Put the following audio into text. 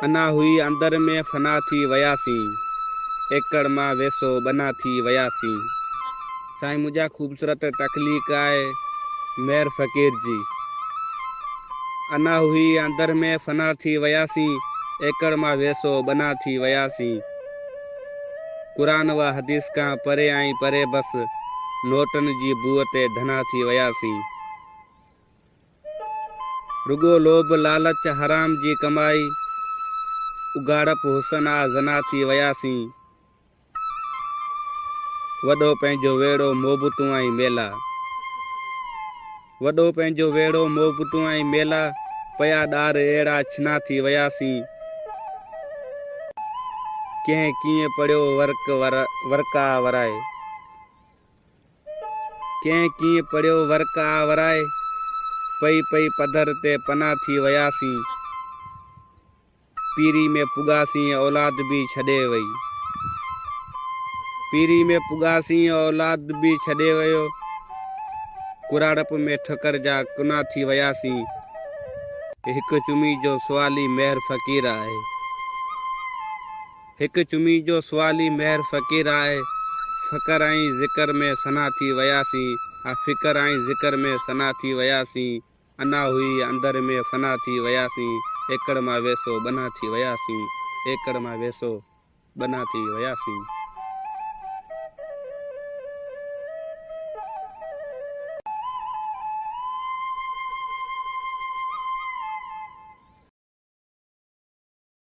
انا هئي اندر ۾ فنا ٿي وياسين ايڪڙ مان ويسو ٻنا ٿي وياسين. سائين منهنجا خوبصورت تخليق آهي مير فقير جي. انا هئي اندر ۾ فنا ٿي وياسين ايڪڙ مان ويسو ٻنا ٿي وياسين. قرآن و حديث کان پري ۽ پري بس نوٽن جي بوء تي ڌنا ٿي وياسين. رڳو لوڀ لالچ حرام جي ڪمائي اگهاڙپ حسن آ زنا ٿي وياسين. وڏو پنهنجو ويڙهو محبتون ۽ ميلا. وڏو پنهنجو ويڙهو مئو پٽون ۽ ميلا پيا ڏار اهڙا ڇنا ٿي وياسين ڪنهن ڪيئن پڙهيو ورق ورقا ورائي ڪنهن ڪيئن پڙهيو ورق آ ورائي پئي پئي پڌر تي پنا ٿي وياسين. پيري ۾ پڳاسين اولاد به ڇڏي وئي. پيري ۾ پڳاسين اولاد به ڇڏي ويو. ڪراڙپ ۾ ٺڪر جا ڪنا ٿي وياسين. هڪ چمي جو سوالي مهر فقير آهي. هڪ چمي جو سوالي مهر فقير آهي. فقر ۽ ذڪر ۾ سنا ٿي وياسين. ها فقر ۽ ذڪر ۾ سنا ٿي وياسين. انا هئي اندر ۾ فنا ٿي وياسين ايڪڙ مان ويسو ٻنها ٿي وياسين ايڪڙ مان ويسو ٻنها ٿي وياسين.